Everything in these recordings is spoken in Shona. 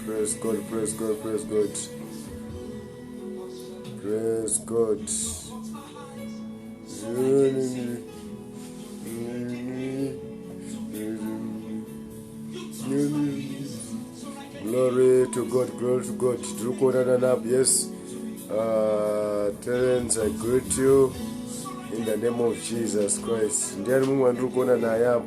Praise God, praise God, praise God. Praise God. Glory to God, glory to God. Tiri kuonana nap, yes. Uh, Terence, I greet you in the name of Jesus Christ. Ndiani mumwe wandiri kuona naye apo?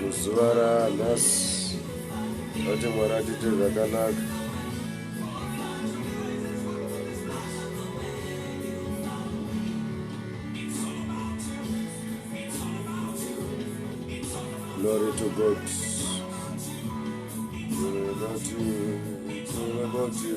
muzuva ranhasi vati mwari atiite zvakanaka glory to god It's all about you. It's all about you.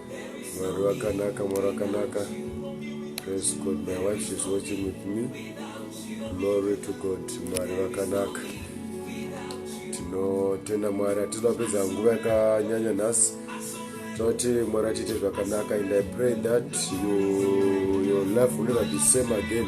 mwari vakanaka mwari vakanaka praise god my wife is watching with me glory to god mwari vakanaka tinotenda mwari hatisi vapedza nguva yakanyanya nhasi toti mwari atiite zvakanaka and i pray that you, your life will never be same again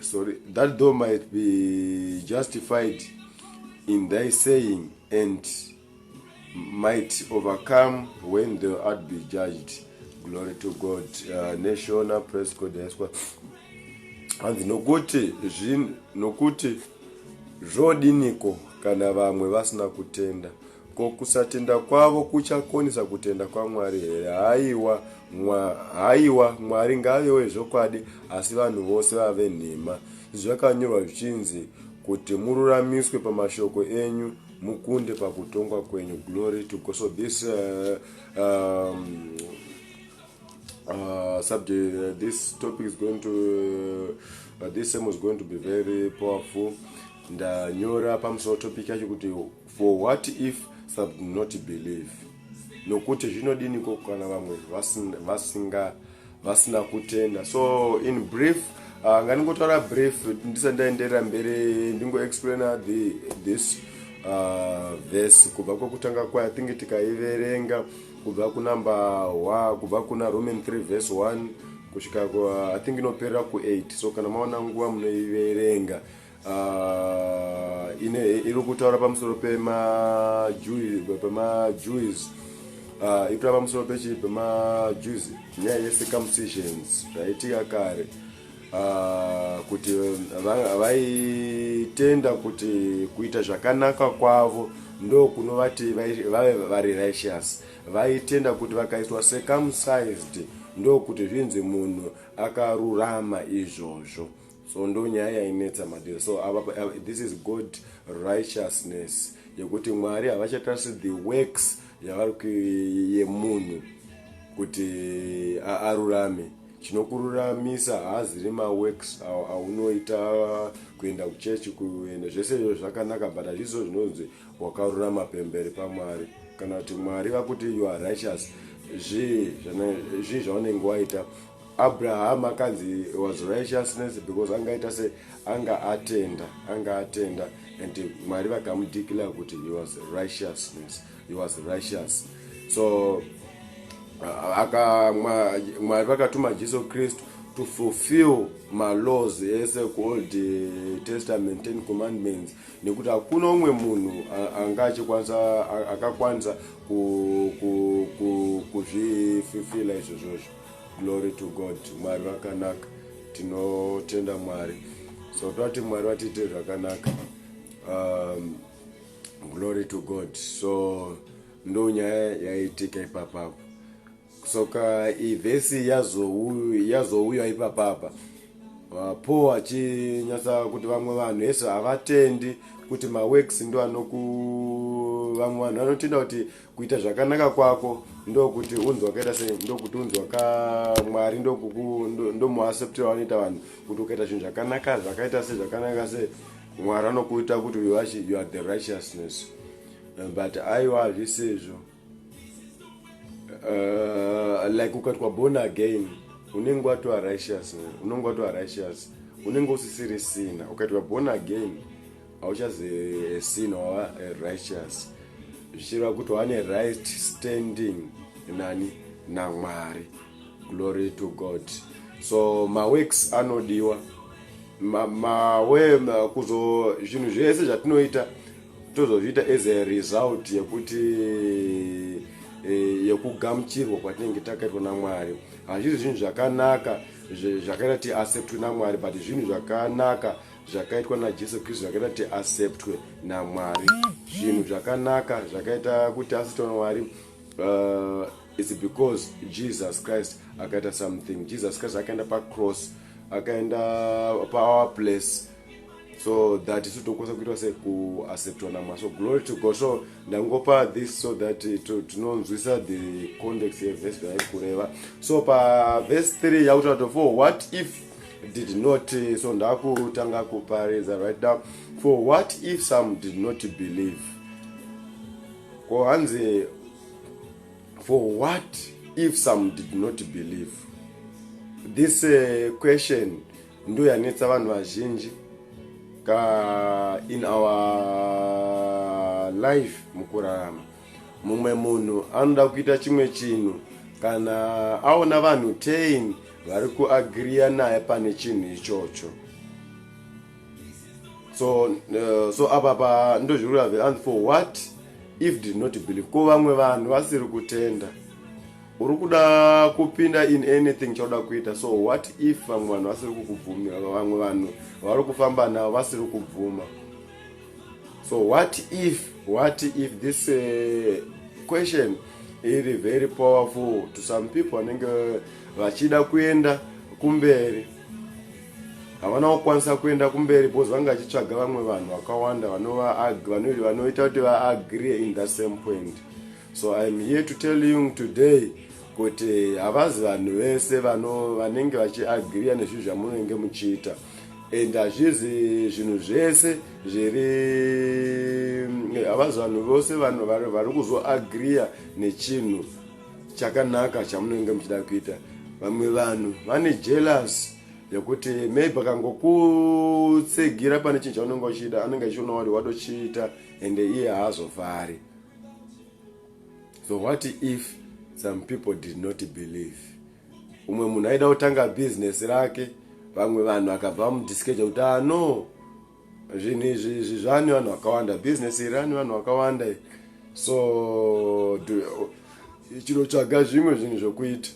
sorry that door might be justified in thy saying and might overcome when thou art be judged glory to god uh, neshona press code yaswa hanzi nokuti zvinhu nokuti zvodiniko kana vamwe vasina kutenda Ko kusatenda kwavo kuchakonesa kutenda kwaMwari here? Haiwa, mwa, haiwa, Mwari ngave wezvokwadi, asi vanhu vose vave nhema. Zvakanyorwa zvichinzi kuti mururamiswe pamashoko enyu mukunde pakutongwa kwenyu glory to god so this uh, um, uh, subject uh, this topic is going to uh, this same is going to be very powerful ndanyora pamusoro topic yacho kuti For what if some do not believe? Nokuti zvinodiniko kana vamwe vasinga vasina kutenda. So in brief uh, nganingotaura brief ndisa ndaenderera mberi ndingo explaina the this uh, verse kubva kwekutanga kwayo tinge tikaiverenga kubva kunumber wa kubva kuna roman 3 verse 1 kusvika i think inoperera ku8 so kana maona nguva munoiverenga uh, iri kutaura pamusoro pemajuis uh, ipira pamusoro pechii pemajuis nyaya yecircumcisions zvaitika kare uh, kuti vaitenda va, va kuti kuita zvakanaka kwavo ndo kunovati vave vari righteous vaitenda kuti vakaitwa circumcised ndokuti zvinzi munhu akarurama izvozvo so ndo nyaya yainetsa madiro so ava this is god righteousness yekuti mwari havachatarisi the works yavari yemunhu kuti arurame chinokururamisa haaziri maworks aunoita kuenda kuchechi kuenda zvese izvo zvakanaka but hazvizo zvinonzi wakarurama pemberi pamwari kana kuti mwari vakuti you are righteous zvii zvaunenge waita abraham akanzi was righteousness because anga aita se anga atenda anga atenda and mwari vakamudeclare kuti he was righteousness he was righteous so aka mwari vakatuma jesu kristu to fulfill malaws ese kuold eh, testament ten commandments nekuti hakuna umwe munhu anga achikwanisa akakwanisa kuzvififila izvozvozvo glory to god mwari vakanaka tinotenda mwari so toti mwari vatiite zvakanaka um, glory to god so ndo nyaya yaitika ipapapo soka ivhesi yazouya ipapapa uh, paul achinyatsa kuti vamwe vanhu hese havatendi kuti maworks ndo anoku vamwe vanhu vanotenda kuti kuita zvakanaka kwako ndokuti unzi wakaita sei ndokuti unzi wakamwari ndomuacceptira vanoita vanhu kuti ukaita zvinhu zvakanaka zvakaita se zvakanaka se mwari anokuita kuti you are the righteousness eh, but aiwa hazvisi izvo eh, like ukatwa born again unenge watova righteous unenge watova righteous unenge usisirisina ukaitwa born again hauchazi sin or righteous zvichireva kuti wane right standing nani namwari glory to god so maworks anodiwa mawe ma, kuzo zvinhu zvese zvatinoita tozozviita as a result yekuti e, yekugamuchirwa kwatinenge takaitwa namwari hazvisi zvinhu zvakanaka zvakaita ti acceptwe namwari but zvinhu zvakanaka zvakaitwa najesu kristu zvakaita kuti acceptwe namwari zvinhu zvakanaka zvakaita kuti asitwa namwari uh, its because jesus christ akaita something jesus christ akaenda pacross akaenda paour place so that isu tinokwanisa kuitwa se kuacceptwa namwari so glory to god so ndangopa this so that tinonzwisa the context yeverse yairi kureva so pavese 3 yakutaura to for what if did not so ndakutanga kuparidza right now for what if some did not believe ko hanzi for what if some did not believe this uh, question ndo yanetsa vanhu vazhinji ka in our life mukurarama mumwe munhu anoda kuita chimwe chinhu kana aona vanhu tain vari kuagriya naye pane chinhu ichocho so uh, so apa pa ndozvirura ve and for what if did not believe ko vamwe vanhu vasiri kutenda uri kuda kupinda in anything chauda kuita so what if vamwe vanhu vasiri kukubvumira vamwe vanhu vari kufamba navo vasiri kubvuma so what if what if this uh, question iri very powerful to some people vanenge vachida kuenda kumberi havana kukwanisa kuenda kumberi bcause vange vachitsvaga vamwe vanhu vakawanda vanoita kuti vaagree in the same point so iam here to tell you today kuti havazi vanhu vese vanenge vachiagria nezvinhu zvamunenge muchiita and hazvizi zvinhu zvese zviri havazi vanhu vose vanhu vari kuzoagriya nechinhu chakanaka chamunenge muchida kuita vamwe vanhu vane jealous yekuti maybe akangokutsigira pane chinhu chaunenge uchida anenge achiona wari watochiita and iye haazofari so what if some people did not believe umwe munhu aida kutanga business rake vamwe vanhu akabva vamudiskeja kuti ah no zvinhu izvi izvi zvani vanhu vakawanda business iri ani vanhu vakawanda so chinotsvaga zvimwe zvinhu zvokuita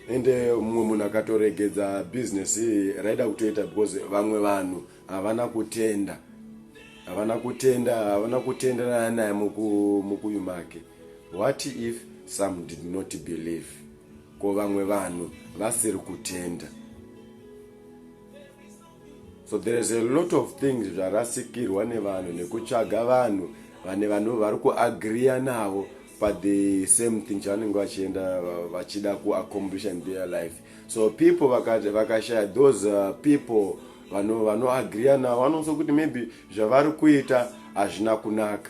ende mumwe munhu akatoregedza business raida kutoita because vamwe vanhu havana kutenda havana kutenda havana kutenderana naye mukuyu make what if some did not believe ko vamwe vanhu vasiri kutenda so there is a lot of things zvarasikirwa nevanhu nekutsvaga vanhu vane vanhu vari kuagriya navo but the same thing chavanenge vachienda vachida kuaccomplish in their life so people vakashaya those uh, people vanhu vanoagriya navo vanoso kuti maybe zvavari kuita hazvina kunaka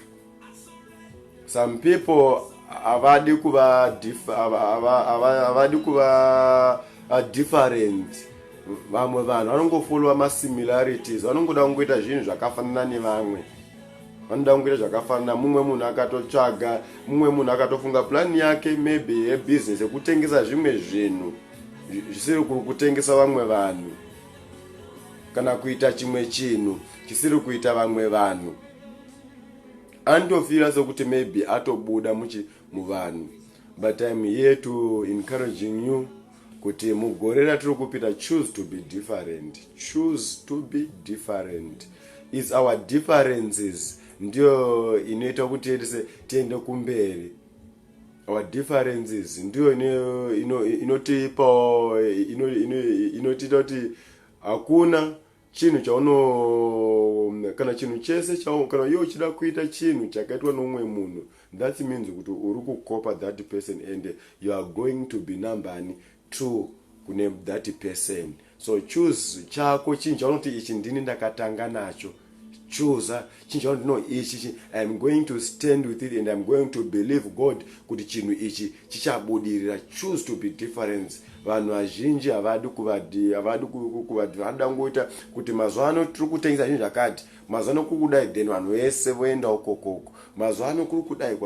some people havadi kuva havadi kuva different vamwe vanhu vanongofolowa masimilarities vanongoda kungoita zvinhu zvakafanana nevamwe vanoda kungoita zvakafanana mumwe munhu akatotsvaga mumwe munhu akatofunga plani yake maybe yebusiness yekutengesa zvimwe zvinhu zvisiri kutengesa vamwe vanhu kana kuita chimwe chinhu chisiri kuita vamwe vanhu anotofira sokuti maybe atobuda muchi muvanhu but im here to encouraging you kuti mugore ratiri kupita choose to be different choose to be different is our differences ndiyo inoita kuti tese tiende kumberi our differences ndiyo inotipawo inotiita kuti hakuna chinhu chauno kana chinhu chese kana iye uchida kuita chinhu chakaitwa noumwe munhu that means kuti uri kukopa that person and you are going to be nambani True kune that person so choose chako chinhu chaunoti ichi ndini ndakatanga nacho choose chinhu chaunoti no ichi chi iam going to stand with it and iam going to believe god kuti chinhu ichi chichabudirira choose to be difference vanhu vazhinji havadi kuvadi havadi kuvadi vanoda kungoita kuti mazuva ano tiri kutengesa zvinhu zvakati mazuva ano kuri kudai then vanhu vese voendawo kokoko mazuva ano kuri kudai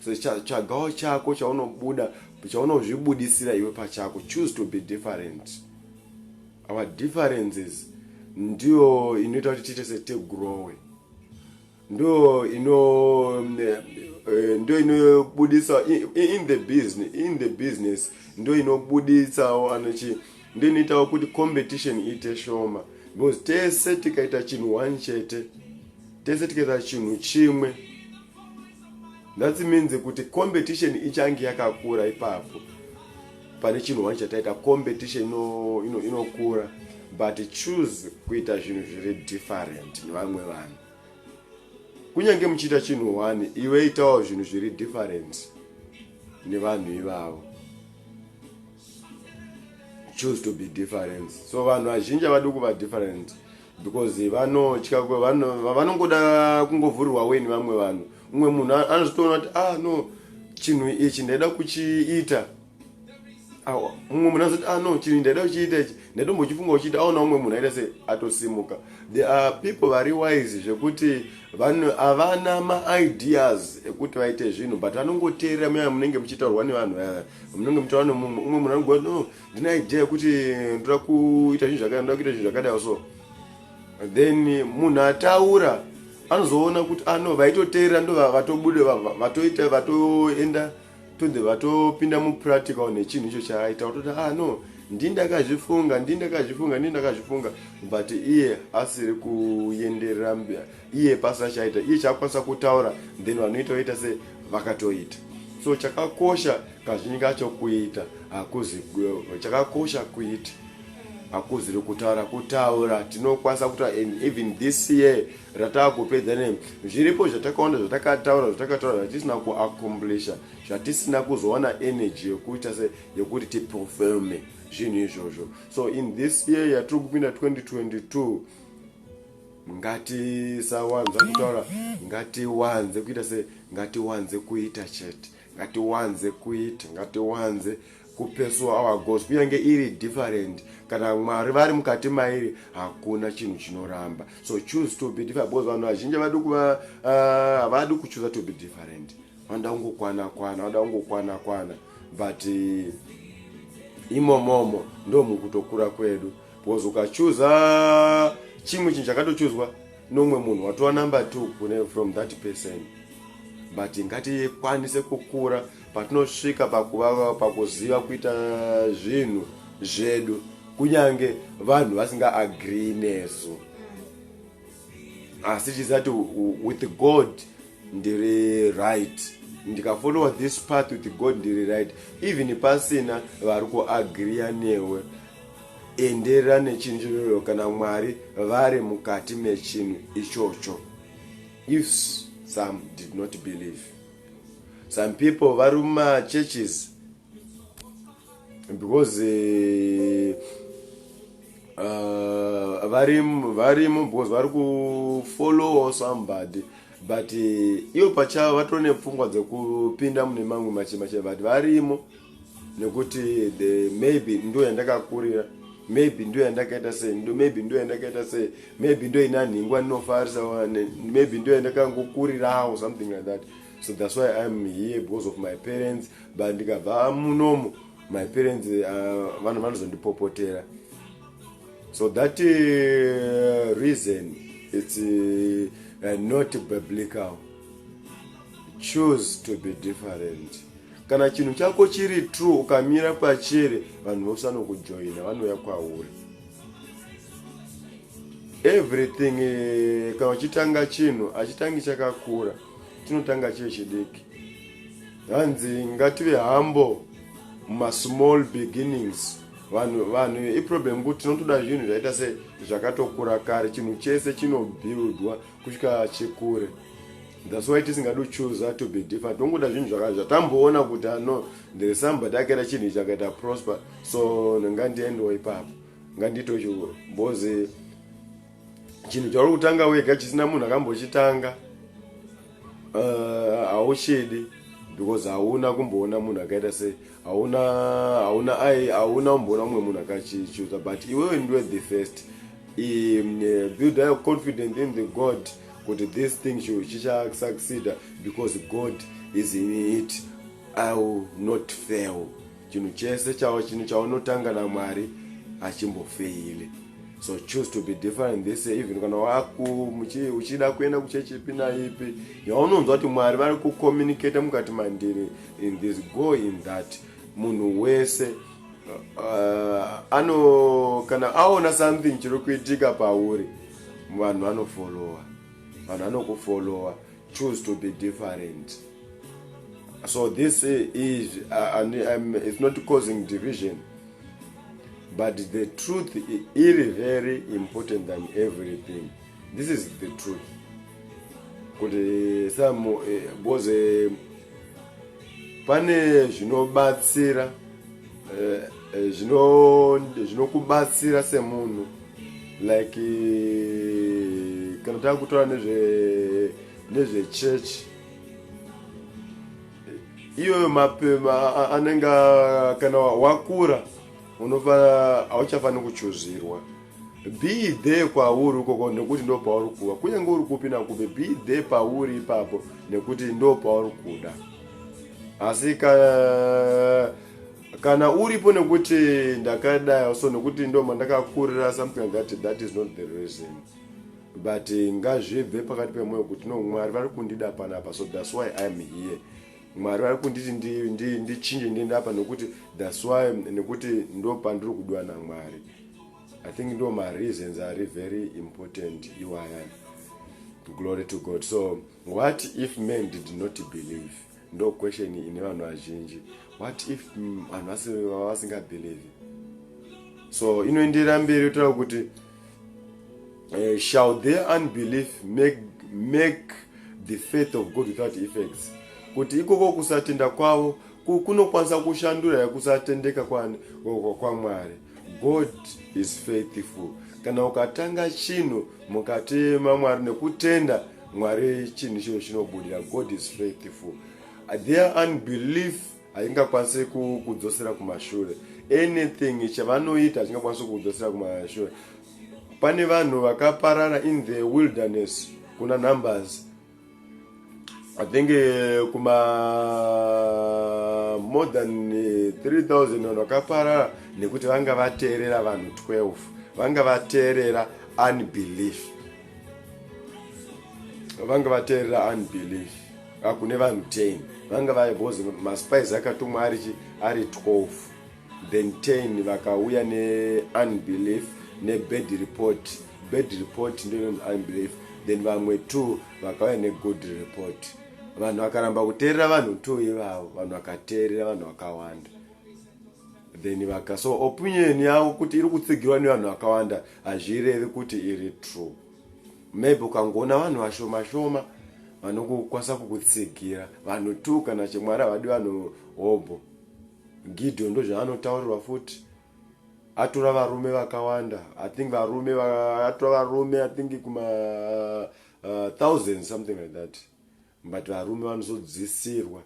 so tsvagawo chako chaunobuda Pachaunozvibudisira iwe pachako choose to be different. Our differences ndiyo inoita kuti tiite setigrowe. Ndiyo ino eh, eh, ndiyo inobudisa in the business in the business ndiyo inobuditsawo anochi ndiyo inoitawo kuti competition iite shoma because tese tikaita chinhu one chete tese tikaita chinhu chimwe that means kuti competition ichange yakakura ipapo pane chinhu wani chataita competition inokura ino, ino but choose kuita zvinhu zviri different nevamwe vanhu kunyange muchiita chinhu wani iwe itawo zvinhu zviri different nevanhu ivavo choose to be different so vanhu vazhinji havadi kuva different because vanotya vanongoda kungovhurirwa weni vamwe vanhu umwe munhu anozotoona kuti ah no chinhu ichi ndaida kuchiita umwe munhu anozoti ah no chinhu ndaida kuchiita ichi ndaitombochifunga uchiita aona umwe munhu aita se atosimuka the are people vari wise zvekuti vanhu havana maideas ekuti vaite zvinhu but vanongoteerera muyaya munenge muchitaurwa nevanhu vaya munenge muchiwana mumwe umwe munhu anogona no ndine idea yekuti ndoda kuita zvinhu zvakadai ndoda kuita zvinhu zvakadai so then munhu ataura anozoona kuti ano ah, vaitoteera ndo vatobude vatoita vatoenda tode vatopinda mupractical nechinhu icho chaaita vatoti ah no ndii ndakazvifunga ndii ndakazvifunga ndii ndakazvifunga but iye asiri kuenderera iye pasina chaita iye chaakwanisa kutaura then vanoita oita se vakatoita so chakakosha kazhinji kacho kuita hakuzi chakakosha kuita hakuziri kutaura kutaura tinokwanisa kutaura and even this year rataa kupedza ne zviripo zvatakaona zvatakataura zvatakataura zvatisina kuaccomplisha zvatisina kuzowana energy yekuita se yekuti tiperforme zvinhu izvozvo so in this year yatiri kupinda 2022 ngatisawanza kutaura ngatiwanze kuita se ngatiwanze kuita chete ngatiwanze kuita ngatiwanze kupesuwa our goals kunyange iri different kana mwari vari mukati mairi hakuna chinhu chinoramba so choose to be different because vanhu vazhinji havadi kuva ah, havadi uh, kuchuza to be different vanoda kungokwana kwana vanoda kungokwana kwana but uh, imomomo ndomukutokura kwedu was ukachuza chimwe chinhu chakatochuzwa nomwe munhu watova number two kune from that person but ngatikwanise kukura patinosvika pakuva pakuziva kuita zvinhu zvedu kunyange vanhu vasinga agree nesu asi chizati with god ndiri right ndikafollowa this path with god ndiri right even pasina vari kuagriya newe enderera nechinjiriro kana mwari vari mukati mechinhu ichocho if some did not believe some people vari mumachurches because eh, uh, varimo because vari kufollowa somebody but eh, ivo pachavo vatone pfungwa dzekupinda mune mamwe machemache but varimo nekuti the maybe ndo yandakakurira maybe ndo yandakaita sei ndo maybe ndo yandakaita sei maybe ndo ina nhingwa ndinofarisa wane maybe ndo yandakangokurirawo something like that so that's why iam here because of my parents but ndikabva munomo my parents uh, vanhu uh, vanozondipopotera so that uh, reason it's uh, uh, not biblical choose to be different kana chinhu chako chiri true ukamira pachere vanhu vose vanokujoina vanouya kwauri everything eh, kana uchitanga chinhu achitangi chakakura tinotanga chie chidiki hanzi ngative hambo mumasmall beginnings vanhu vanhu iproblem kuti tinotoda zvinhu zvaita se zvakatokura kare chinhu chese chinobuildwa kusvika chekure that's why tisingadi kuchuza to be different tongoda zvinhu zvaka zvatamboona kuti ano ah, ndiri somebody akaita chinhu ichi akaita prosper so ngandiendewo ipapo ngandito chikuru bcozi chinhu chauri kutanga wega chisina munhu akambochitanga eh, hauchidi uh, because hauna kumboona munhu akaita sei hauna hauna ai hauna umboona umwe munhu akachichuza but iwewe ndiwe the first um, eh, build your confidence in the god kuti this thing chichasucceda because god is in it i will not fail chinhu chese chavo chinhu chaunotanga namwari hachimbofeili so choose to be different this even kana waku uchida kuenda kuchechipi naipi yaunonzwa kuti mwari vari kucommunicate mukati mandiri in this go in that munhu wese uh, uh, ano kana aona something chiri kuitika pauri vanhu vanofollowa vanhu vanokufollowa choose to be different so this is uh, and, um, it's not causing division but the truth is very important than everything this is the truth kuti some eh, because eh, pane zvinobatsira eh, eh, zvinokubatsira eh, semunhu like eh, kana tava kutora nezvechechi iyoyo mapema anenge kana wakura unofa hauchafaniri kuchuzirwa be there kwauri ukoko nekuti ndo pauri kuva kunyange uri kupi nakupi be there pauri ipapo nekuti ndo pauri kuda asi ka kana uripo nekuti ndakadai so nekuti ndo mandakakurira something like that that is not the reason but eh, ngazvibve pakati pemwoyo kuti no mwari vari kundida panapa so thats why iam here mwari vari kunditi ndichinje ndiende apa nekuti thats why nekuti ndo pandiri kudiwa namwari I think ndo ma reasons are very important iwaya. Glory to God. So what if men did not believe? Ndo question ine vanhu vazhinji. What if mm, vanhu vasinga believe? So inoenderera mberi yotaura kuti uh, shall their unbelief make, make the faith of God without effects? Kuti ikoko kusatenda kwavo kunokwanisa kushandura kusatendeka kwamwari kwa God is faithful. Kana ukatanga chinhu mukatema Mwari nekutenda Mwari chinhu ichocho chinobudira. God is faithful. Their unbelief haingakwanise kudzosera kumashure. Anything chavanoita hachingakwanise kudzosera kumashure. Pane vanhu vakaparara in the wilderness kuna numbers I think eh, kuma more than 3000 eh, vanhu vakaparara nekuti vanga vateerera vanhu 12 vanga vateerera unbelief vanga vateerera unbelief ah, kune vanhu 10 vanga vaibhozi maspice akatumwa ari 12 Bentain vakauya ne unbelief ne bad report bad report ndio inonzi unbelief then vamwe two vakauya ne good report vanhu vakaramba kuteerera vanhu two ivavo vanhu vakateerera vanhu vakawanda then vaka so opinion yavo kuti iri kutsigirwa nevanhu vakawanda hazvirevi kuti iri true maybe ukangoona vanhu vashoma shoma vanokukwanisa kukutsigira vanhu two kana chimwari havadi vanhu hobho Gideon ndozvaanotaurirwa futi atora varume vakawanda i think varume atora varume i think kuma uh, thousand something like that but varume vanozodzisirwa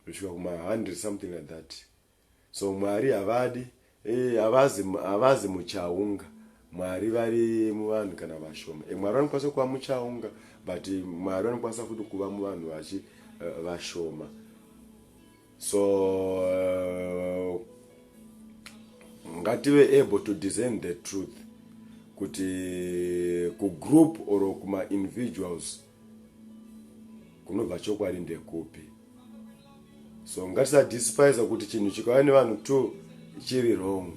kusvika kuma hundred something like that so mwari havadi Hey, havazi havazi muchaunga mwari vari muvanhu kana vashoma e, mwari vanokwanisa kuva muchaunga but mwari vanokwanisa futi kuva muvanhu vachi uh, vashoma so uh, ngative able to design the truth kuti kugroup or kuma individuals kunobva chokwadi ndekupi so ngatisadespisa kuti chinhu chikauya nevanhu two chiri wrong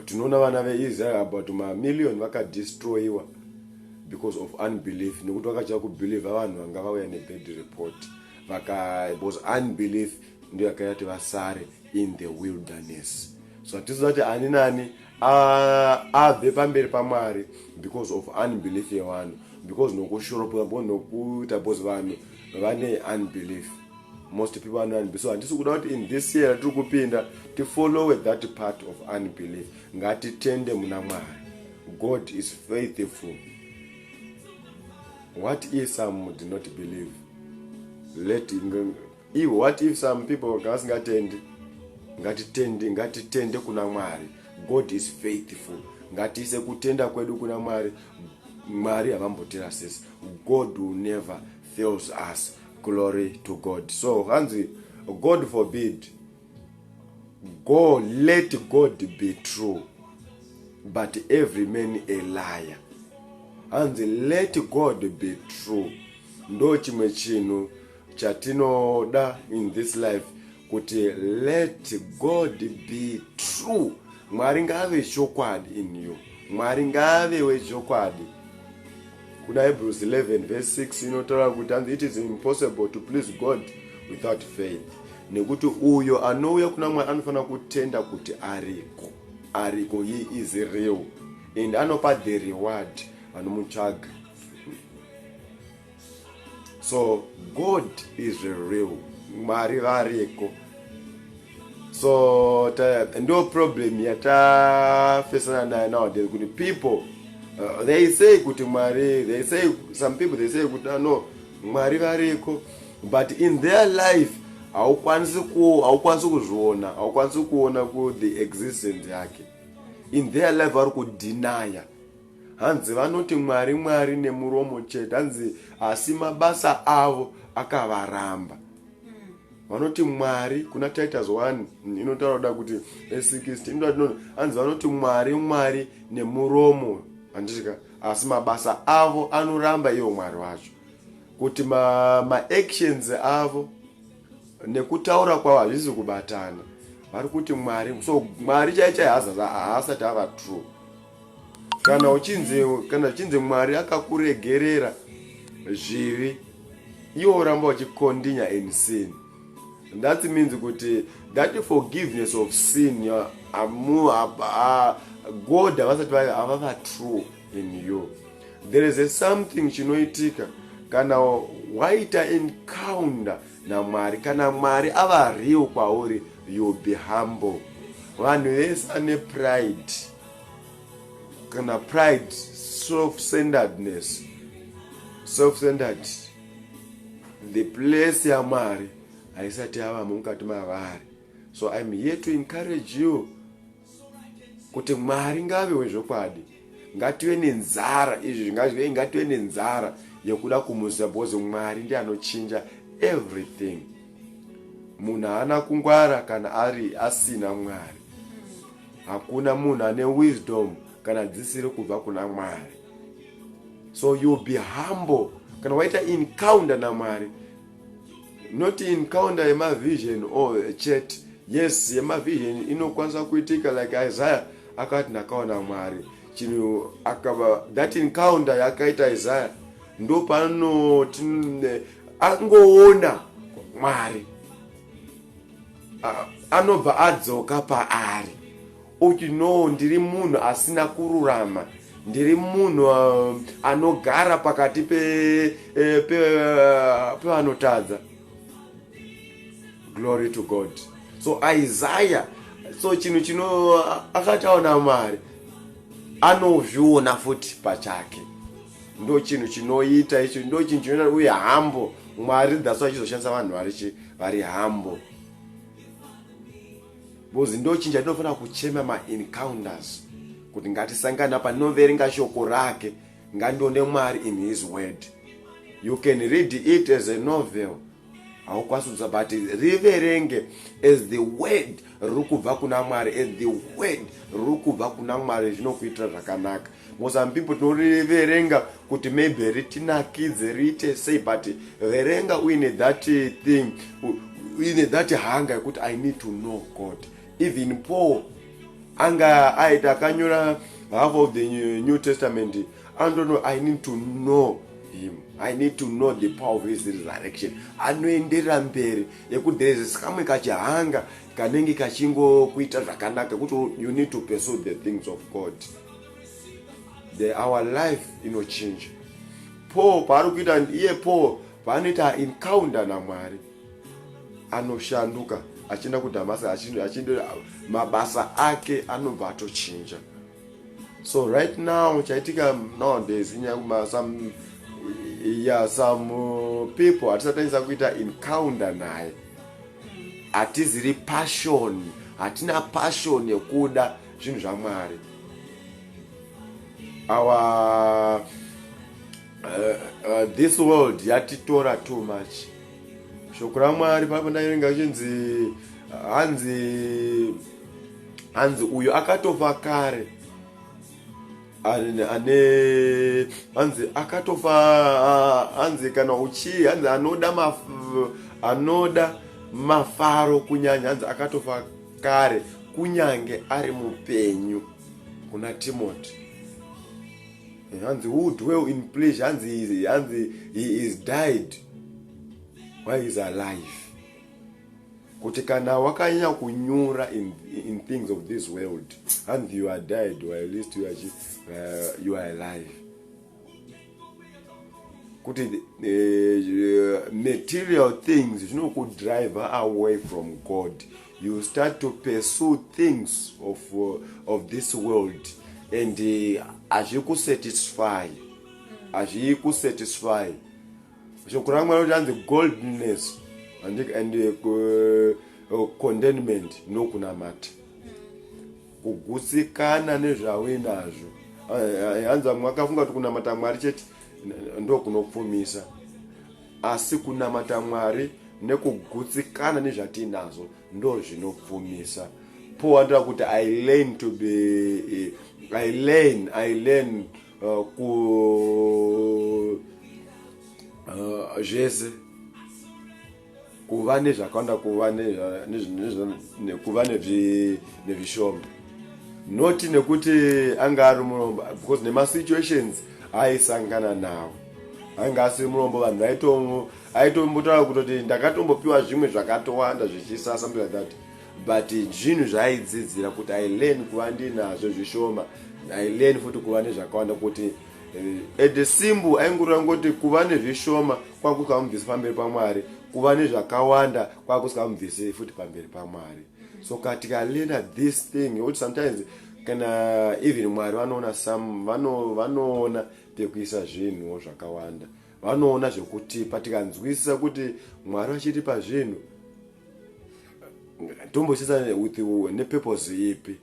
tinoona vana veisrael about mamillion vakadestroyiwa because of unbelief nekuti vakachava kubelieva vanhu vanga vauya nebad report vaka was unbelief ndiyo yakayati vasare in the wilderness so hatizoti ani nani abve pamberi pamwari because of unbelief yevanhu because nokushuropwa bo nokuita bcause vanhu vane unbelief most people vane unbelief so handisi kuda kuti in this year tiri kupinda tifollowe that part of unbelief ngatitende muna mwari god is faithful what is some did not believe let Ivo what if some people kana vasingatendi ngatitende ngatitende kuna mwari god is faithful ngatiise kutenda kwedu kuna mwari mwari havambotirasisi god will never fails us glory to god so hanzi god forbid go let god be true but every man a liar hanzi let god be true ndo chimwe chinhu chatinoda in this life kuti let god be true mwari ngaave chokwadi in you mwari ngaave wechokwadi kuna hebrews 11 verse 6 inotaura kuti anzi it is impossible to please god without faith nekuti uyo anouya kuna mwari anofanira kutenda kuti ariko ariko he is real and anopa the reward vanomutsvaga so god is real mwari variko so ndo problem yatafesana nayo nowadays kuti people uh, they say kuti mwari they say some people they say kuti ah, no mwari variko but in their life haukwanisi ku haukwanisi kuzviona haukwanisi kuona ku the existence yake in their life vari kudinaya hanzi vanoti mwari mwari nemuromo chete hanzi asi mabasa avo akavaramba hmm. vanoti mwari kuna titus 1 inotaura kuda kuti e60 inotaura tinoti hanzi vanoti mwari mwari nemuromo handisika asi mabasa avo anoramba ivo mwari vacho kuti maactions ma avo nekutaura kwavo hazvisi kubatana vari kuti mwari so mwari chaichai haasati ava true kana uchinzi kana zvichinzi mwari akakuregerera zvivi iwo oramba uchikondinya in sin that means kuti that forgiveness of sin amu god havasati havava true in you there is a something chinoitika kana waita encounter namwari kana mwari ava real kwauri youll be humble vanhu vese ane pride kana pride self centeredness self centered the place yamwari haisati yavamo mukati mavari so im here to encourage you kuti mwari ngave wezvokwadi ngative nenzara izvi zvingazive ngative nenzara yekuda kumuziva because mwari ndi anochinja everything munhu haana kungwara kana ari asina mwari hakuna munhu ane wisdom kana dzisiri kubva kuna mwari so youll be humble kana waita encounter namwari not encounter yemavision or chet yes yemavision inokwanisa kuitika like isaiah akati ndakaona mwari chinhu akava that encounter yakaita isaiah ndo pano angoona mwari anobva adzoka paari uti no ndiri munhu asina kururama ndiri munhu uh, anogara pakati eh, uh, pevanotadza pe, pe, uh, glory to god so isaya so chinhu chino akataona mwari anozviona futi pachake ndo chinhu chinoita icho ndo chinhu chinoita uye hambo mwari that's why chizoshandisa vanhu vari chi vari hambo because ndo chinhu chatinofanira kuchema maencounters kuti ngatisangana panoverenga shoko rake ngandione mwari in his word you can read it as a novel haukwanisi kuza but riverenge as the word riri kubva kuna mwari as the word riri kubva kuna mwari zvinokuitira zvakanaka mosam people tinoriverenga kuti maybe ritinakidze riite sei but verenga uine that thing uine that hunger yekuti i need to know god even paul anga aita akanyora half of the new testament I don't know, I need to know him. I need to know the power of his resurrection. Anoenderera mberi yekuti there is kamwe kachihanga kanenge kachingokuita zvakanaka kuti you need to pursue the things of God. The, our life inochinja. Paul paari kuita iye Paul paanoita encounter naMwari anoshanduka achienda kuDhamascus achienda mabasa ake anobva atochinja. so right now chaitika nowadays nyanguma some yeah some uh, people hatisatanyisa kuita encounter naye hatiziri passion hatina passion yekuda zvinhu zvamwari our uh, uh, this world yatitora too much shoko ramwari paipo ndairinga chinzi hanzi hanzi uyu akatofa kare ane hanzi akatofa hanzi kana uchii hanzi anoda maf, anoda mafaro kunyanya hanzi akatofa kare kunyange ari mupenyu kuna timoti eh, hanzi who dwell in pleasure hanzi hanzi he is died why is alive kuti kana wakanyanya kunyura in, in things of this world and you are died or at least you are, uh, you are alive kuti uh, material things zvinokudriver away from god you start to pursue things of, uh, of this world and eh, hazvikusatisfy hazvikusatisfy uh, shoko ramwari kuti anzi goldness and, and uh, uh, contentment ndokunamata kugutsikana nezvauinazvo hanzi vamwe vakafunga kuti kunamata mwari chete ndokunopfumisa asi kunamata mwari nekugutsikana nezvatiinazvo ndo zvinopfumisa paul andira kuti i learn to be eh, i learn i learn uh, ku uh, zvese uh, kuva nezvakawanda kuva nekuva nezvishoma noti nekuti anga ari murombo because nemasituations aisangana nawo ainge asiri murombo vanhu vaitombotaura kutoti ndakatombopiwa zvimwe zvakatowanda zvichisasa mntu like that but zvinhu zvaaidzidzira kuti i learn kuva ndinazvo zvishoma i learn futi kuva nezvakawanda kuti eh, at the simbu aingurira ngoti kuva nezvishoma kwakusikamubvisi pamberi pamwari kuva nezvakawanda kwakusikamubvisi futi pamberi pamwari so katika learner this thing kuti sometimes kana even mwari vanoona some vanoona pekuisa zvinhuwo zvakawanda vanoona zvekutipa tikanzwisisa kuti mwari vachitipa zvinhu ndombochisa with nepurpose ipi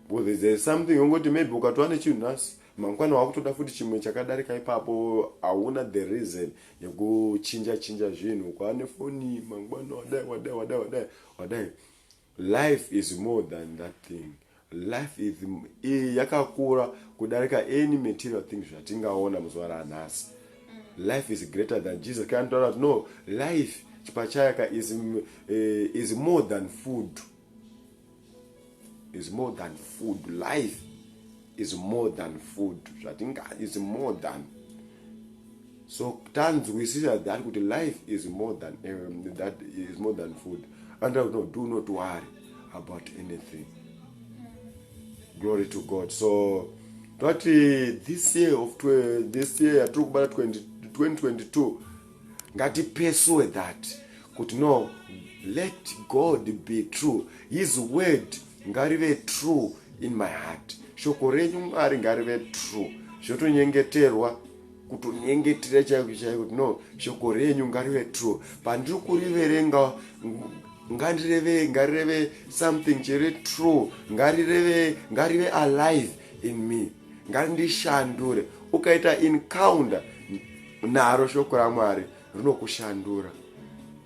because there is something ongoti maybe ukatova nechinhu nhasi mangwana wakutoda futi chimwe chakadarika ipapo hauna the reason yekuchinja chinja zvinhu kwaane foni mangwana wadai wadai wadai wadai wadai life is more than that thing Life is iyi yakakura kudarika any material thing zvatingaona muzuva ranhasi. Mm. Life is greater than Jesus. Kana taura kuti no life chipachayaka is uh, is more than food. Is more than food. Life is more than food. Zvatinga is more than so tanzwisisa that kuti life is more than um, that is more than food and I know, do not worry about anything glory to god so tati this year of this year yatiri kubata 2022 ngatipesuwe that kuti no let god be true his word ngarive true in my heart shoko renyu mwari ngarive true zvotonyengeterwa kutonyengetera chaiko chaiko kuti no shoko renyu ngarive true pandiri kuriverenga ngarireve ngarireve something chiri true ngarireve ngarive alive in me ngandishandure ukaita encounter naro shoko ramwari rinokushandura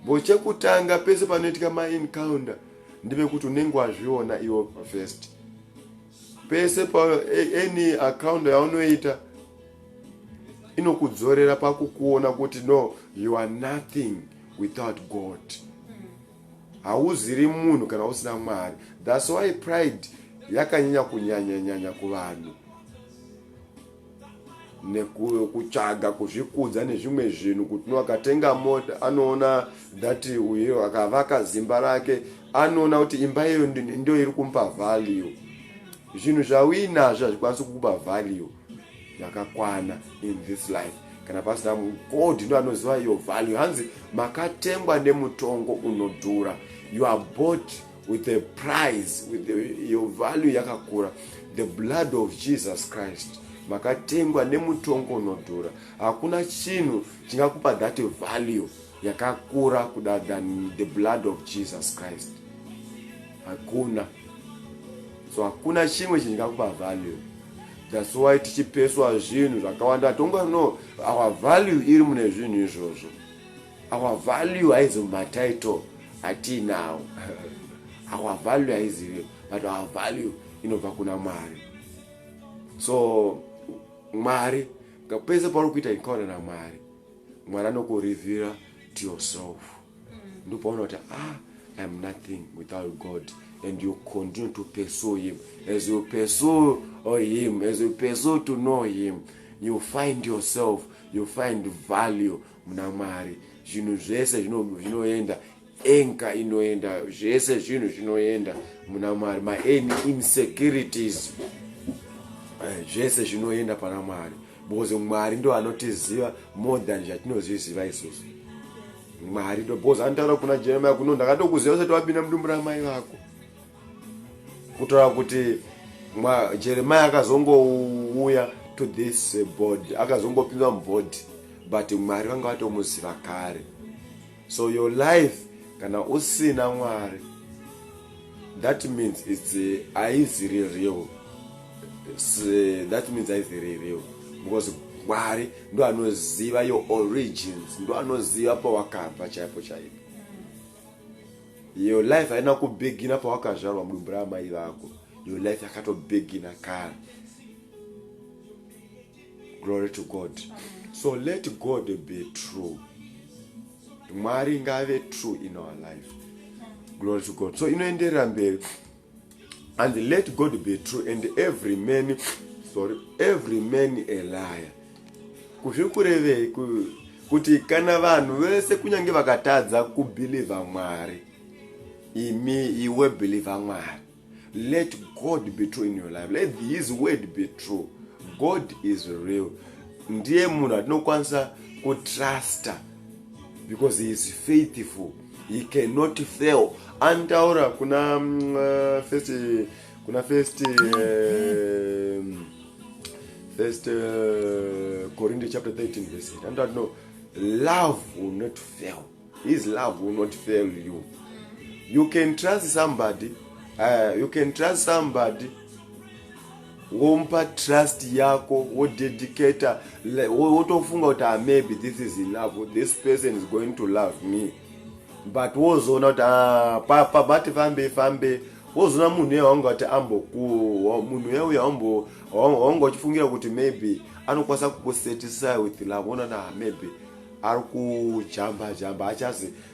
bo chekutanga pese panoitika maencounter ndive kuti unenge wazviona iwo first pese pa any account yaunoita inokudzorera pakukuona kuti no you are nothing without god hauziri munhu kana usina mwari thats why pride yakanyanya kunyanyanyanya kuvanhu nekutsvaga kuzvikudza nezvimwe zvinhu kuti akatenga mota anoona that uyo akavaka zimba rake anoona kuti imba iyoyo ndo iri kumupa value zvinhu zvauinazvo hazvikwanisi kukupa value yakakwana in this life kana pasina god ndo anoziva iyo value hanzi makatengwa nemutongo unodhura you are bought with a price with your value yakakura the blood of jesus christ makatengwa nemutongo unodhura hakuna chinhu chingakupa that value yakakura kuda than the blood of jesus christ hakuna so hakuna chimwe chingakupa value thats why tichipeswa zvinhu zvakawanda tongo no our value iri mune zvinhu izvozvo our value haizi mumatitle atiinawo our value haizive but our value inobva kuna mwari so mwari pese pauri kuita encounter namwari mwari anokurivira to yourself mm. ndopauona kuti ah iam nothing without god and you continue to pursue him as you pursue oh, him as you pursue to know him you find yourself you find value muna mwari zvinhu zvese zvinoenda enka inoenda zvese zvinhu zvinoenda muna mwari main insecurities eh, zvese zvinoenda pana mwari because mwari ndo anotiziva more than zvatinozviziva isusu mwari ndo because anotaura kuna jeremia kuno ndakatokuziva usati wapinda mudumbu ramai vako kutaura kuti jeremiya akazongouya to this eh, body akazongopinzwa mubody but mwari vanga vatomuziva kare so your life kana usina mwari that means its eh, aizi real eh, that means aizi real because mwari ndo anoziva your origins ndo anoziva pawakabva chaipo chaipo Your life haina kubegina pawakazvarwa mudumbu raamai vako. Your life yakatobegina kare. Glory to God. So let God be true. Mwari ngave true in our life. Glory to God. So inoenderera mberi. and let god be true and every man sorry every man a liar kuzviri kurevei kuti kana vanhu vese kunyange vakatadza kubhilivha mwari imi iwe bhilivha mwari let god be true in your life let his word be true god is real ndiye munhu atinokwanisa kutrusta because he is faithful he cannot fail antaura kuna mm, eh, first kuna first eh, first eh, corinthians chapter 13 verse 8 antaura no love will not fail his love will not fail you you can trust somebody uh, you can trust somebody womupa trust yako wodedicator wotofunga kuti ah, maybe this is enough this person is going to love me but wozoona kuti ah, papa bati fambe fambe wozoona munhu uya wanga kuti ambokuwa munhu uya uya wanga uchifungira kuti maybe anokwanisa kukusatisfy with love onana ah, maybe ari kujamba jamba achazi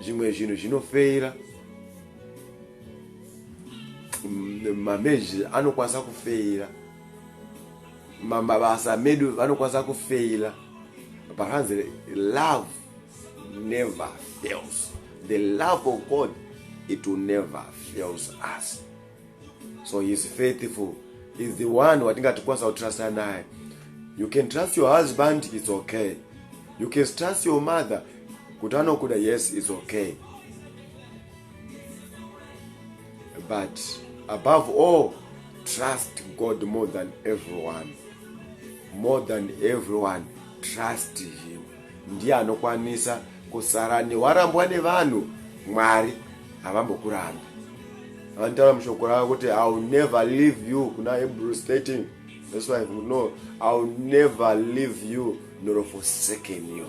zvimwe zvinhu zvinofeira mameji anokwanisa kufeira mabasa medu vanokwanisa kufeira but hanzi love never fails the love of god it will never fails us so he is faithful he is the one watingatikwanisa kutrusta naye you can trust your husband its okay you can trust your mother kuti anokuda yes its okay but above all trust god more than everyone more than everyone trust him ndiye anokwanisa kusara newarambwa nevanhu mwari havambokurambi vantaura mushoko ravo kuti i will never leave you kuna hebrew stating that's why no i will never leave you nor forsaken you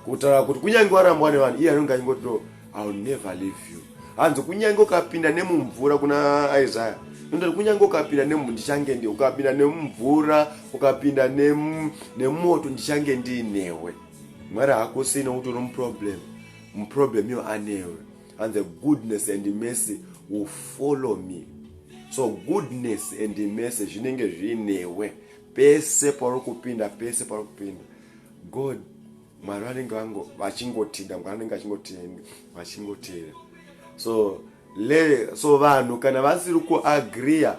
kutaura kuti kunyange warambwa nevanhu iye anenge achingoti no i will never leave you hanzi kunyange ukapinda nemumvura kuna isaya nondoti kunyange ukapinda nemu ndichange ndi ukapinda nemumvura ukapinda nemoto ndichange ndiinewe mwari hakusina kuti unomuproblem muproblem yo anewe and the goodness and mercy will follow me so goodness and mercy zvinenge zviinewe pese pauri kupinda pese pauri kupinda god mwari vanenge vango vachingotida mwari vanenge vachingotenda vachingotera so le so vanhu kana vasiri kuagriya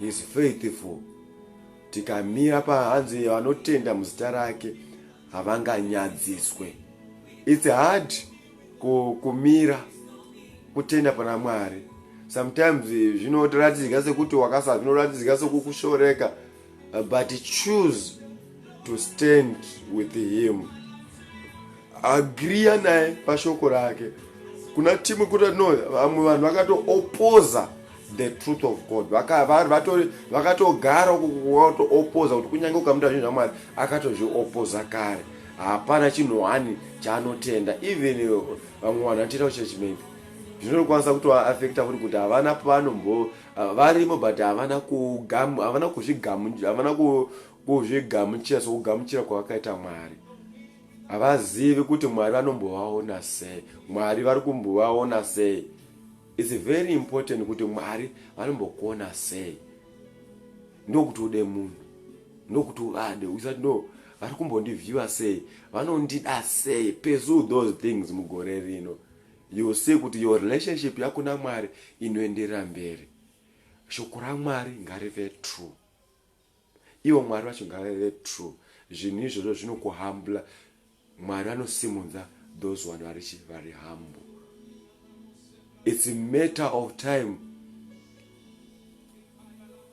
He's faithful. Tikamira pahanzi vanotenda muzita rake havanganyadziswe. It's hard kumira kutenda pana Mwari. Sometimes zvinoratidza sekuti wakasa zvinoratidzika sekukushoreka. but choose to stand with him agriya naye pashoko rake kuna timwe kuti no vamwe vanhu vakatoopoza the truth of god vakatogara kutoopoza kuti kunyange ukamuta zvinhu zvamwari akatozviopoza kare hapana chinhu hani chaanotenda even vamwe vanhu vanotoita kuchurch maybe zvinokwanisa kutoafekta futi kuti havana pavanombo Ah, varimo but havana kugamu havana kuzvigamu havana kuzvigamuchira sokugamuchira kwavakaita mwari havazivi kuti mwari vanombovaona sei mwari vari kumbovaona sei its very important kuti mwari vanombokuona sei ndokuti ude munhu ndokuti uvade usati no vari kumbondivhiwa sei vanondida sei pursue those things mugore rino You'll see kuti your relationship yako naMwari inoenderera mberi. Shoko raMwari ngarive true. Ivo Mwari vacho ngavave true. Zvinhu izvozvo zvinokuhambula. Mwari vanosimudza those vanhu vari chi vari humble. It's a matter of time.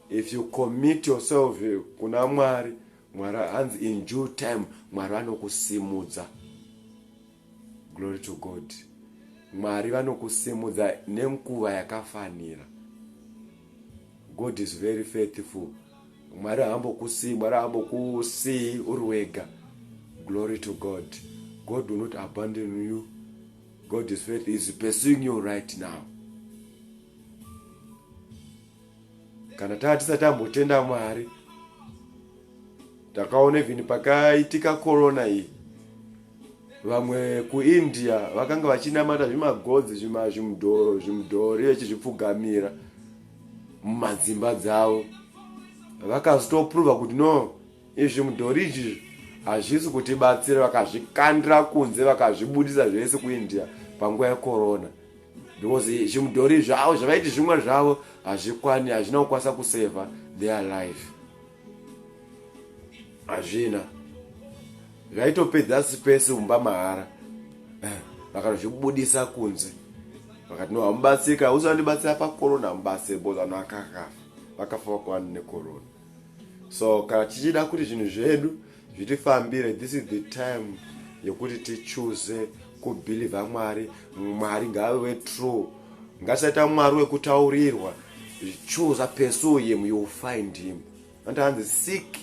If you commit yourself kuna Mwari, Mwari hanzi in due time Mwari vanokusimudza. glory to god mwari vanokusimudza nenguva yakafanira god is very faithful mwari haambokusii mwari haambokusii uri wega glory to god god will not abandon you god is faith is pursuing you right now kana taa tisati tambotenda mwari takaona even pakaitika corona iyi vamwe kuindia vakanga vachinamata zvimagodzi zvimudhori vechizvipfugamira mumadzimba dzavo vakazotoprova kuti no izvi mudhori izvizvi hazvisi kutibatsira vakazvikandira kunze vakazvibudisa zvese kuindia panguva yekorona because zvimudhori zvavo zvavaiti zvimwe zvavo hazvikwani hazvina kukwanisa kuseva their life hazvina zvaitopedza sipesi umba mahara eh, vakanozvibudisa kunze vakati no hamubatsika usi vandibatsira pakorona hamubatsire bos vanhu vakakafa vakafa vakwani nekorona so kana tichida kuti zvinhu zvedu zvitifambire this is the time yekuti tichuze kubhilivha mwari mwari ngave true ngatisaita mwari wekutaurirwa chuza pursue him you will find him anti hanzi seek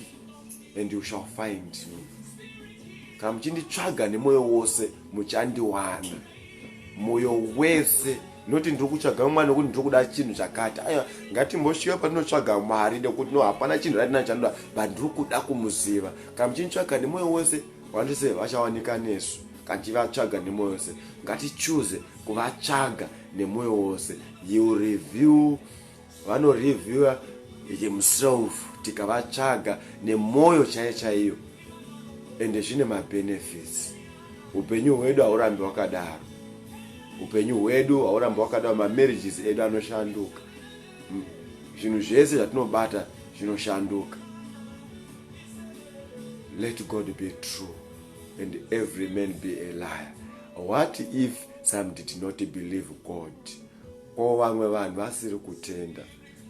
and you shall find me kana muchinditsvaga nemwoyo wose muchandiwana moyo wese noti ndiri kutsvaga mwana nekuti ndiri kuda chinhu chakati aiwa ngatimboshiva patinotsvaga mwari nekuti no hapana chinhu ratina chanoda but ndiri kuda kumuziva kana muchinitsvaga nemwoyo wese vandise vachawanika nesu kana tichivatsvaga nemwoyo wese ngatichuze kuvatsvaga nemwoyo wose you review vanoreviewer himself tikavatsvaga nemwoyo chaiyo chaiyo ende zvine mabenefits upenyu hwedu haurambi wakadaro upenyu hwedu haurambi wakadaro mamarriages edu anoshanduka hmm. zvinhu zvese zvatinobata zvinoshanduka let god be true and every man be a liar what if some did not believe god or vamwe vanhu vasiri kutenda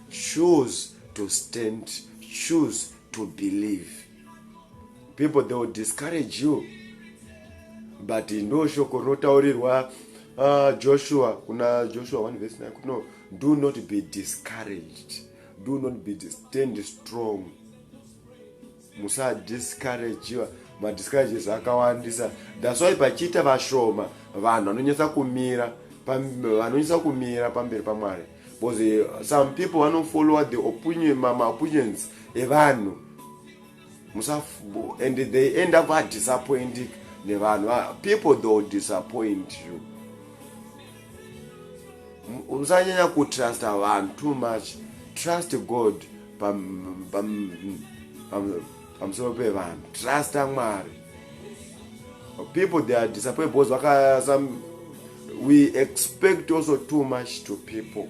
choose to stand choose to believe people they will discourage you but ndo shoko rinotaurirwa uh, joshua kuna joshua 1 vs 9 no do not be discouraged do not be stand strong musadiscouragiwa madiscourages akawandisa that's why pachiita vashoma vanhu vanonyatsa kumira vanonyatsa kumira pamberi pamwari because eh, some people vanofollowa the opinion maopinions evanhu and they end up vadisappointing nevanhu ah, people theyll disappoint you usanyanya kutrusta vanhu too much trust god pamusoro pevanhu trusta mwari people they are disappointed because vaka some we expect also too much to people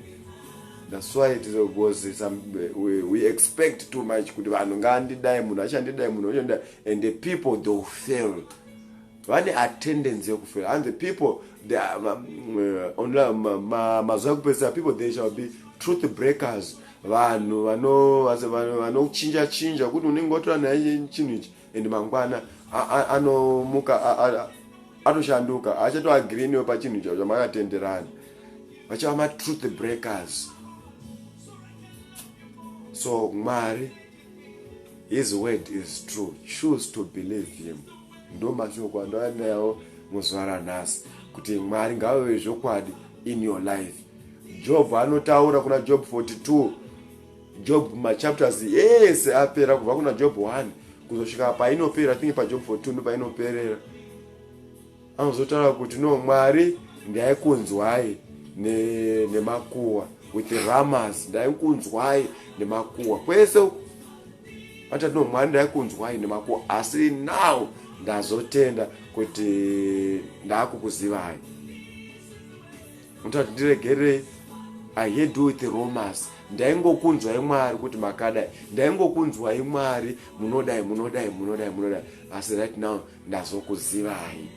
that's why it is because some we, we expect too much kuti vanhu ngandidai munhu achandidai munhu achandidai and the people they will fail vane attendency yekufela and the people mazuva ekupedzisa people they shall be truth breakers vanhu vanochinja chinja kuti unenge watora naye chinhu ichi and mangwana anomuka atoshanduka haachatoagiri newe pachinhu chavo chamakatenderana vachava matruth breakers so mwari His word is true. Choose to believe him. Ndo mashoko andoanayawo muzuva ranhasi kuti Mwari ngaveve zvokwadi in your life. Job anotaura kuna Job 42. Job machapters ese apera kubva kuna Job 1 kuzosvika painopera. I think paJob 42 ndopainoperera. Anozotaura kuti no Mwari ndaikunzwai nemakuwa ne with ramas ndaikunzwai nemakuwa kwese ata no Mwari ndaikunzwai nemakuwa asi now ndazotenda kuti ndakukuzivai mutati ndiregerei i had do with romas ndaingokunzwai mwari kuti makadai ndaingokunzwai mwari munodai munodai munodai munodai asi right now ndazokuzivai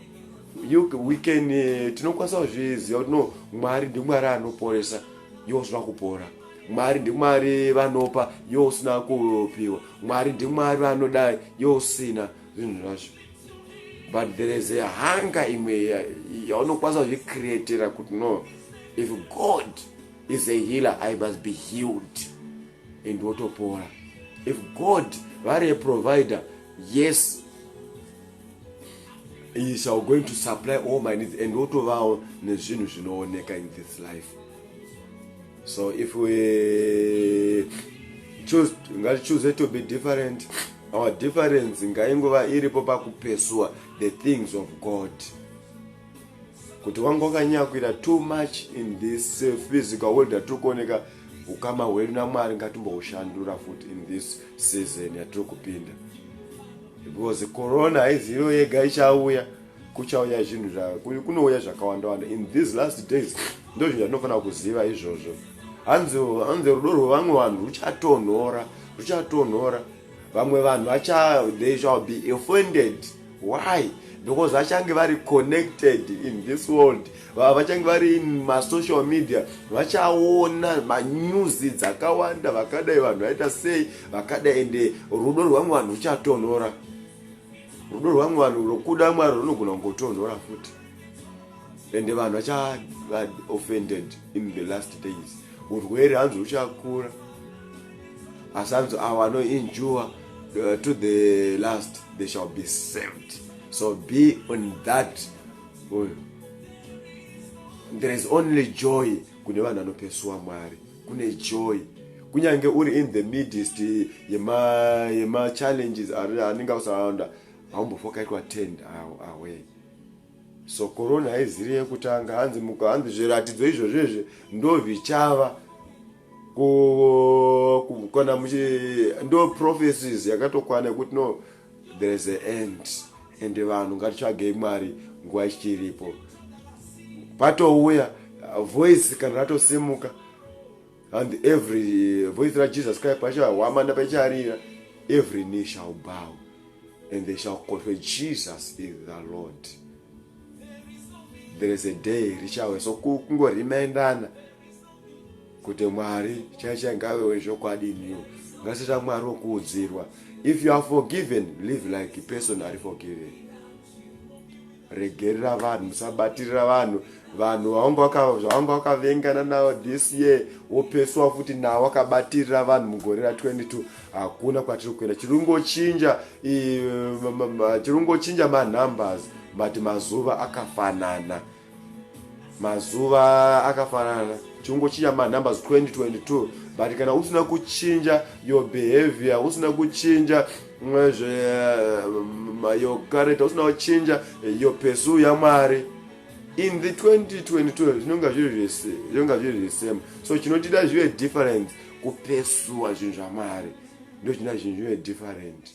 you we can uh, tinokwanisa kuzviziva kuti no mwari ndimwari anoporesa iwo usina kupora mwari ndimwari vanopa iwo usina kupiwa mwari ndimwari vanodai iwo usina zvinhu zvacho but there is a hunger imwe yaunokwanisa kuzvicreatera kuti no if god is a healer i must be healed and wotopora if god vari a provider yes he shall going to supply all my needs and wotovawo nezvinhu zvinooneka in this life so if we choose ngatichoose to be different our difference ngaingova iripo pakupesuwa the things of god kuti wange wakanyakuira too much in this uh, physical world yatiri kuoneka ukama hwedu namwari ngatimboushandura futi in this season yatiri kupinda because corona haizivo yega ichauya kuchauya zvinhu kunouya zvakawandawanda in these last days ndo zvinhu zvatinofanira kuziva izvozvo hanzi rudo rwevamwe vanhu ruchatonhora ruchatonhora vamwe vanhu vacha they shall be offended why because vachange vari connected in this world vachange vari in masocial media vachaona manews dzakawanda vakadai vanhu vaita sei vakadai ende rudo rwamwe vanhu ruchatonhora rudo rwamwe vanhu rokuda mwari runogona kungotonhora futi ende vanhu vachaoffended in the last days urwere hanzi ruchakura asi anzi avo anoinjua uh, to the last they shall be saved so be on that uh, there is only joy kune vanhu vanopesuwa mwari kune joy kunyange uri in the midst yemachallenges anenge usaonda haumbofokaitwa tend away So corona haiziri yekutanga hanzi muka hanzi zviratidzo izvo zvezve ndozvichava kana muchi ndo prophecies yakatokwana yekuti no there is a end ende vanhu ngatitsvagei mwari nguva ichiripo patouya voice kana ratosimuka and every eh, voice rajesus kaya pachahwamanda pacharira every knee shall bow and they shall confess jesus is the lord there is a day richauya so kungorimendana kuti mwari chaicha ngave wezvokwadi new ngasita mwari wokuudzirwa if you are forgiven live like person ari forgiven regerera vanhu musabatirira vanhu vanhu vavanga vakavengana navo this year wopeswa futi nawo akabatirira vanhu mugore ra 22 hakuna kwatiri kuenda chirungochinja chirungochinja manumbers but mazuva akafanana mazuva akafanana chirungochinja manumbers 2022 but kana usina kuchinja your behavior usina kuchinja mwezve mayokareta usina kuchinja yo pesu yamwari in the 2022 zvinonga zviri zvese zvinonga zviri zvisema so chinotida zvive different kupesuwa zvinhu zvamwari ndo chinoda zvinhu zvive different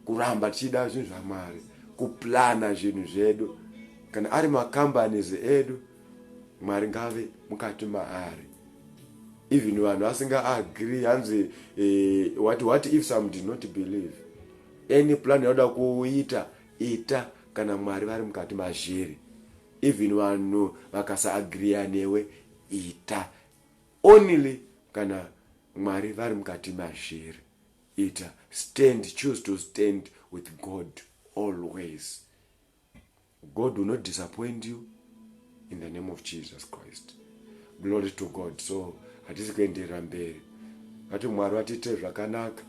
kuramba tichida zvinhu zvamwari kuplana zvinhu zvedu kana ari macompanies edu mwari ngave mukati maari even vanhu vasinga agree hanzi eh, what, what if some did not believe any plan yauda kuita ita kana mwari vari mukati mazviri even vanhu vakasaagriya newe ita only kana mwari vari mukati mazviri ita stand choose to stand with god always God will not disappoint you in the name of Jesus Christ. Glory to God. So hatisi kuenderera mberi. Vati Mwari vatiitire zvakanaka.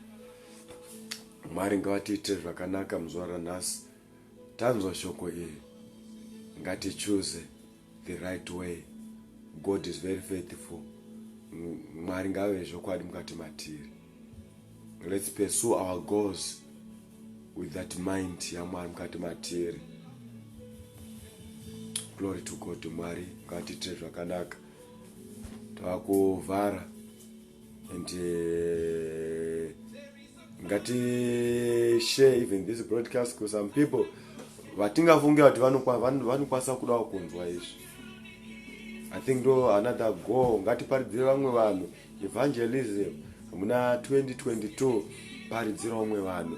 Mwari ngavatiitire zvakanaka muzuva ranhasi. Tanzwa shoko iri. Ngatichuze the right way god is very faithful mwari ngave zvokwadi mukati matiri let's pursue our goals with that mind yamwari mukati matiri glory to god mwari ngatiitire zvakanaka tava kuvhara and uh, ngati share even this broadcast because some people vatingafunge kuti vanokwanisa kudawo kunzwa izvi i think ndo another go ngatiparidzire vamwe vanhu evangelism muna 2022 paridzira vamwe vanhu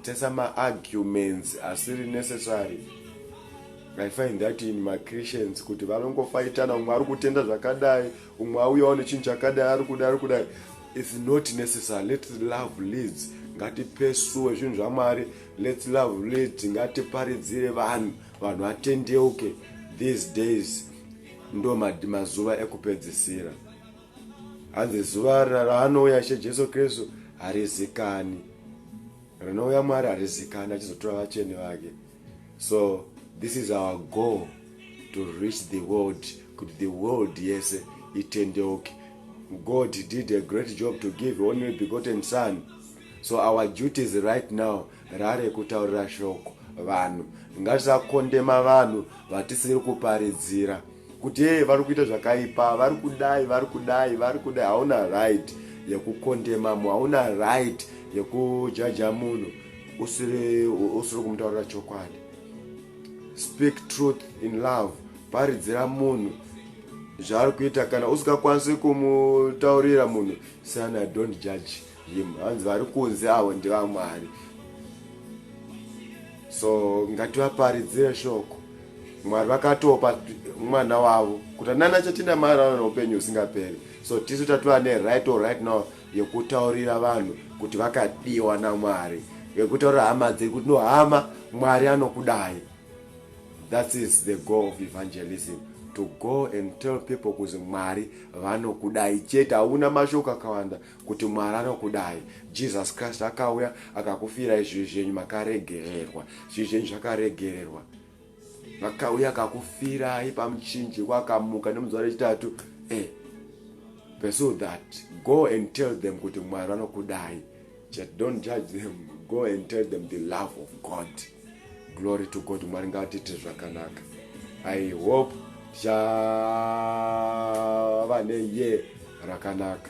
tesa maarguments asiri necessary i find that in machristians kuti vanongofaitana umwe ari kutenda zvakadai umwe auyawo nechinhu chakadai ari kudai ari kudai its not necessary let love leads ngatipesuwe zvinhu zvamwari let love leads ngatiparidzire vanhu vanhu vatendeuke these days ndo mazuva ekupedzisira hanzi zuva raanouya ishe jesu kristu harizikani rinouya mwari harizikani achizotora vacheni vake so this is our goal to reach the world kuti the world yese itendeuke god did a great job to give only begotten son so our duties right now rare kutaurira shoko vanhu ngatisakondema vanhu vatisiri kuparidzira kuti hee vari kuita zvakaipa vari kudai vari kudai vari kudai hauna right yekukondema mu hauna right yekujaja munhu usiri usiri kumutaurira chokwadi speak truth in love paridzira munhu zvaari kuita kana usingakwanisi kumutaurira munhu sana don't judge him hanzi vari kunze avo ndevamwari so ngativaparidzire shoko mwari vakatopa mwana wavo kuti nana chatinda mari aona upenyu husingaperi so tisu tatova neright or right now yekutaurira vanhu kuti vakadiwa namwari vekutaurira hama dziri kuti no hama mwari anokudai that is the goal of evangelism to go and tell people kuzi mwari vanokudai chete hauna mashoko akawanda kuti mwari anokudai jesus christ akauya akakufirai zvivi zvenyu makaregererwa zvivi zvenyu zvakaregererwa vakauya akakufirai pamuchinji wakamuka nemuzuva rechitatu e eh, pursue that go and tell them kuti mwari vanokudai chet don't judge them go and tell them the love of god glory to god mwari ngaatiite zvakanaka i hope tichava neye rakanaka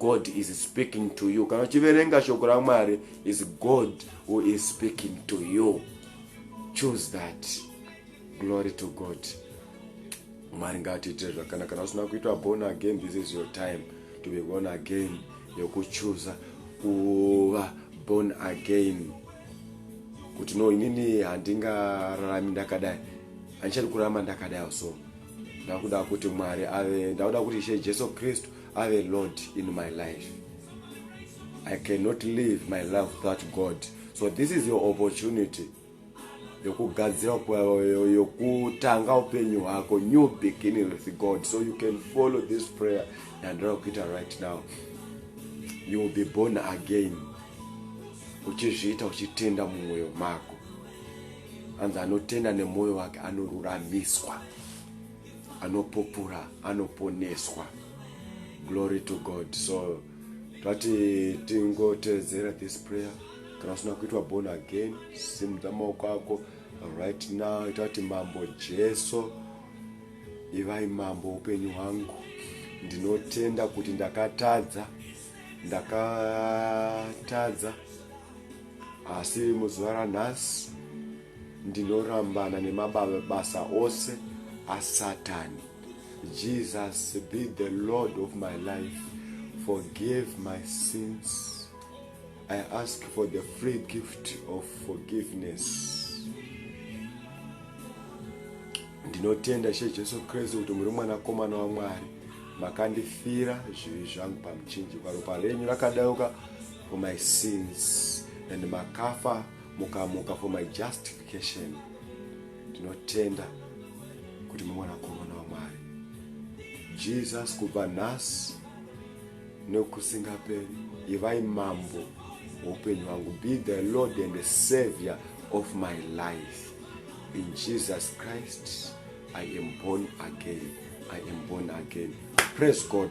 god is speaking to you kana uchiverenga shoko ramwari is god who is speaking to you choose that glory to god mwari ngatiitire zvakanaka kana usina kuitwa born again this is your time to be born again yokuchuza kuva born again kuti no inini handingararami ndakadai handichadi kurarama ndakadai so ndakuda kuti mwari ave ndakuda kuti ishe jesu kristu have a lot in my life i cannot live my life without god so this is your opportunity yokugadzira yokutanga upenyu hwako new beginning with god so you can follow this prayer yandira kuita right now you will be born again uchizviita uchitenda mumwoyo mako anzi anotenda nemwoyo wake anoruramiswa anopupura anoponeswa glory to god so tati tingoteedzera this prayer kana usina kuitwa born again simudza maoko ako right now itati mambo jesu ivai mambo upenyu hwangu ndinotenda kuti ndakatadza ndakatadza asi muzuva ranhasi Ndinorambana nemabasa ose asatani. Jesus be the Lord of my life. Forgive my sins. I ask for the free gift of forgiveness. Ndinotenda She Jesu Kristu kuti muri mwanakomana waMwari. Makandifira zvivi zvangu pamuchinjikwa. Ropa renyu rakadauka for my sins and makafa mukamuka for my justification tinotenda kuti mumwanakomana wamwari jesus kubva nhasi nekusingaperi ivai mambo woupenyu wangu be the lord and the savior of my life in jesus christ i am born again i am born again praise god